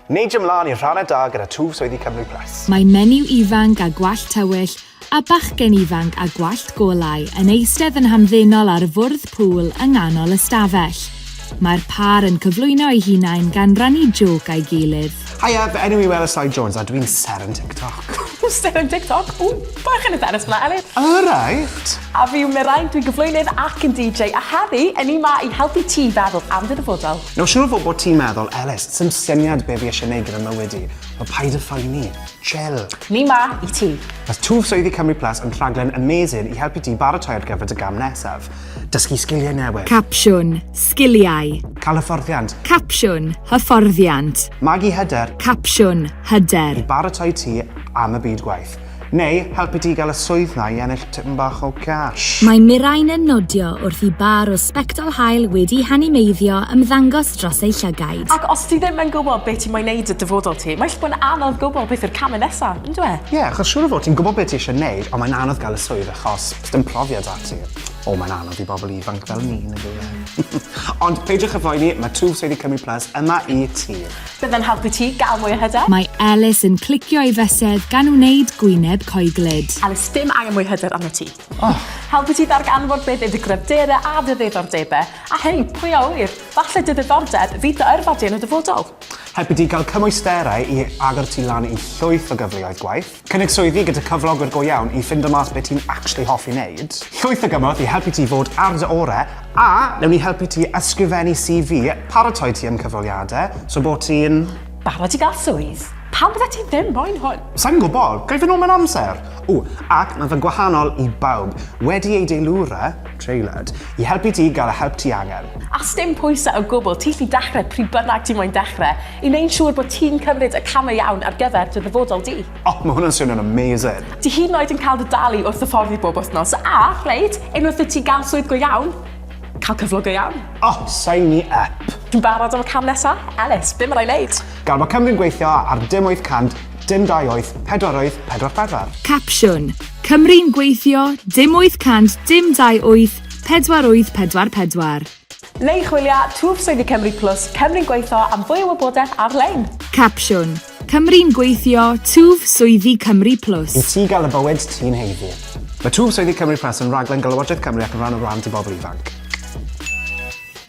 Neidio 'mlaen i'r rhannau da gyda twf swyddi Cymru Press. Mae menyw ifanc â gwallt tywyll a bachgen ifanc â gwallt golau yn eistedd yn hamddenol ar fwrdd pŵl yng nghanol y stafell. Mae'r pâr yn cyflwyno eu hunain gan rannu jôc â'i gilydd. Haia, fy enw i yw Elis Lloyd Jones a dw i'n sêr yn TikTok. Ww, sêr yn TikTok? Ww, bach yn embarrassed fan'na, Elis. Alright! A fi yw Mirain, dwi'n gyflwynydd ac yn DJ a heddi, 'yn ni 'ma i helpu ti feddwl am dy ddyfodol. Nawr siŵr o fod bod ti'n meddwl, Elis, sdim syniad be fi eisiau neud gyda mywyd i. Wel, paid â phoeni. Chill. Ni 'ma i ti. Mae Twf Swyddi Cymru Plus yn rhaglen amazing i helpu ti baratoi ar gyfer dy gam nesaf. Dysgu sgiliau newydd. Capsiwn, Sgiliau. Cael hyfforddiant. Capsiwn, Hyfforddiant. Magu hyder. Capsiwn, Hyder. I baratoi ti am y byd gwaith. Neu helpu ti i gael y swydd 'na i ennill tipyn bach o cash. Mae Mirain yn nodio wrth i bar o sbectol haul wedi hanimeiddio ymddangos dros ei llygaid. Ac os ti ddim yn gwybod be ti moyn wneud 'da dyfodol ti, mae jyst bod yn anodd gwybod beth yw'r camau nesaf, yn dyw e? Ie, achos siŵr o fod ti'n gwybod be ti eisiau wneud, ond mae'n anodd gael y swydd achos does dim profiad 'da ti. O, mae'n anodd i bobl ifanc fel ni, yn dyw e? Ond peidiwch â phoeni, mae Two Safety Cymru Plus yma i ti. Byddem helpu ti gael mwy o hyder. Mae Elis yn clicio ei fysedd gan wneud gwyneb coeglyd. Elis, dim angen mwy hyder arnot ti. Oh! Helpu ti ddarganfod beth yw dy gryfderau a dy ddiddordebau, a hei, pwy a ŵyr, falle dy ddiddordeb fydd dy yrfa di yn y dyfodol. Helpu ti gael cymwysterau i agor ti lan i llwyth o gyfleoedd gwaith. Cynnig swyddi gyda cyflogwr go iawn i ffindo mas beth ti'n actually hoffi wneud. Llwyth o gymorth i helpu ti fod ar dy ore, a newn ni helpu ti ysgrifennu CV, paratoi ti am cyfweliadau, so bod ti'n... Barod i gael swydd. Pam byddet ti ddim moyn hwn? Sai'n gwybod, ga i fynd nôl mewn amser? Ww, ac mae fe'n gwahanol i bawb. Wedi ei deilwra, Traelawd. I helpu ti gael y help ti angen. A sdim pwysau o gwbl, ti gallu dechrau pryd bynnag ti moyn dechrau, i wneud siŵr bod ti'n cymryd y camau iawn ar gyfer dy ddyfodol di. O, mae hwnna'n swnio'n amazing! Ti hyd yn oed yn cael dy dalu wrth hyfforddi bob wythnos, a, reit, unwaith i ti gael swydd go iawn, cael cyflog go iawn. O, sign me up! Ti'n barod am y cam nesa? Elis, be mae rai wneud? Gad bod Cymru'n gweithio ar dim 800 Dim dau oedd, pedwar oedd, pedwar pedwar. Capsiwn, Cymru'n gweithio, dim wyth cant, dim dau wyth, pedwar wyth pedwar pedwar. Neu chwilia twf swyddi Cymru Plus, Cymru'n gweithio am fwy o wybodaeth ar-lein. Capsiwn, Cymru'n gweithio, twf swyddi Cymru Plus. I ti gael y bywyd ti'n heiddi. Mae Twf Swyddi Cymru Plus yn raglen gan Lywodraeth Cymru ac yn rhan o Wlad i Bobl Ifanc.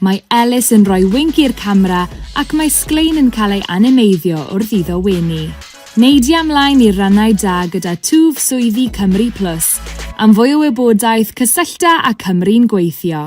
Mae Ellis yn rhoi winc i'r camera ac mae sglein yn cael ei animeiddio wrth iddo wenu. Neidia mlaen i'r rannau da gyda twf swyddi Cymru Plus. Am fwy o wybodaeth, cysyllta â Cymru'n Gweithio.